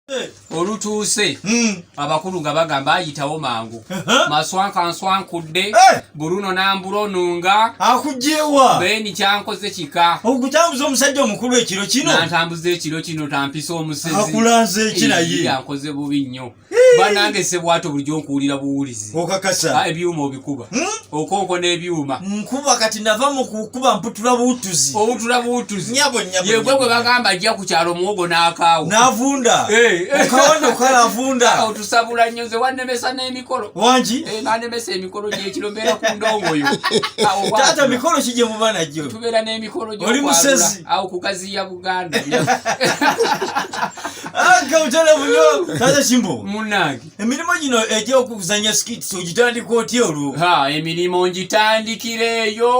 Eh. olutuuse hmm. abakulu nga bagamba ayitawo mangu maswanka nswankudde eh. buruno nambula onunga akujewa beni kyankoze kika okutambuza omusajja omukulu ekiro kino nantambuza ekiro kino tampisa omusezi akulanze ekinaye yankoze bubi nnyo banange sebwato bulijjo nkuwulira buwulizi okakasa ah, ebyuma obikuba Hmm? okonko n'ebyuma nkuba kati nava mu kukuba mputula buutuzi obutula buutuzi nyabo nyabo yegwe gwe bagamba ajja ku kyalo muwogo n'akaawo n'avunda eh, eh. okawano kala avunda awo tusabula nnyo nze wannemesa n'emikolo wangi eh, nanemesa emikolo gyekiro mbeera ku ndongoyo taata mikolo ki gye muba nagyo tubeera n'emikolo gyoli musezi awo kugaziya buganda agga ah, mutala munyo taata kimbo munange emirimu gino egyokuzanya skits ogitandika otya olwo ha emirimu ngitandikireeyo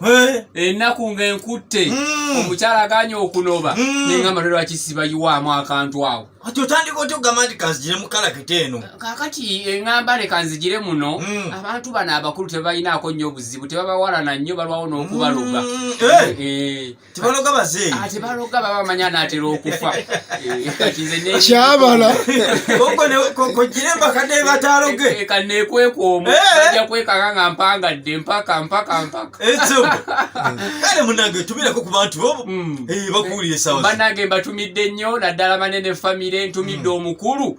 eh? ennaku nga enkutte hmm. omukyala aganye okunoba hmm. nengamba lwe lwaki sibayiwaamu akantu awo ati otandika otya okugamba nti kanzigire mu kalakita eno kakati engamba ne kanzigire muno hmm. abantu bano abakulu tebalinaako nnyo obuzibu tebabawalana nnyo balwawo n'okubaloga eh? Eh. tebaloga bazeeyi ah, tebaloga baba bamanya anaatera okufa eh, kyabala kojjire embakadde bataaloge eh, kaneekweka omu eh. ajja kwekaka nga mpangadde mpaka mpaka mpaka kale munange tumileko ku bantu bobo hmm. bakuwulire sawa banange mbatumidde nnyo naddala manene famire ntumidde hmm. omukulu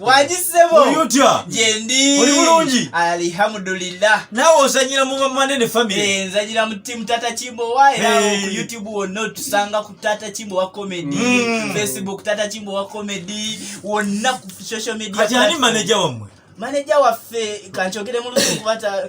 wagisebo oyotya gyendi oli bulungi alihamudulillah nawe ozanyira mu bamanene family eh, nzanyira mu timu tata kimbowa era hey. ku youtube wonna otusanga ku tata kimbowa comedy mm. facebook tata kimbowa comedy wonna ku social media kati ani manager wammwe manager waffe kankyogere mulusi kubata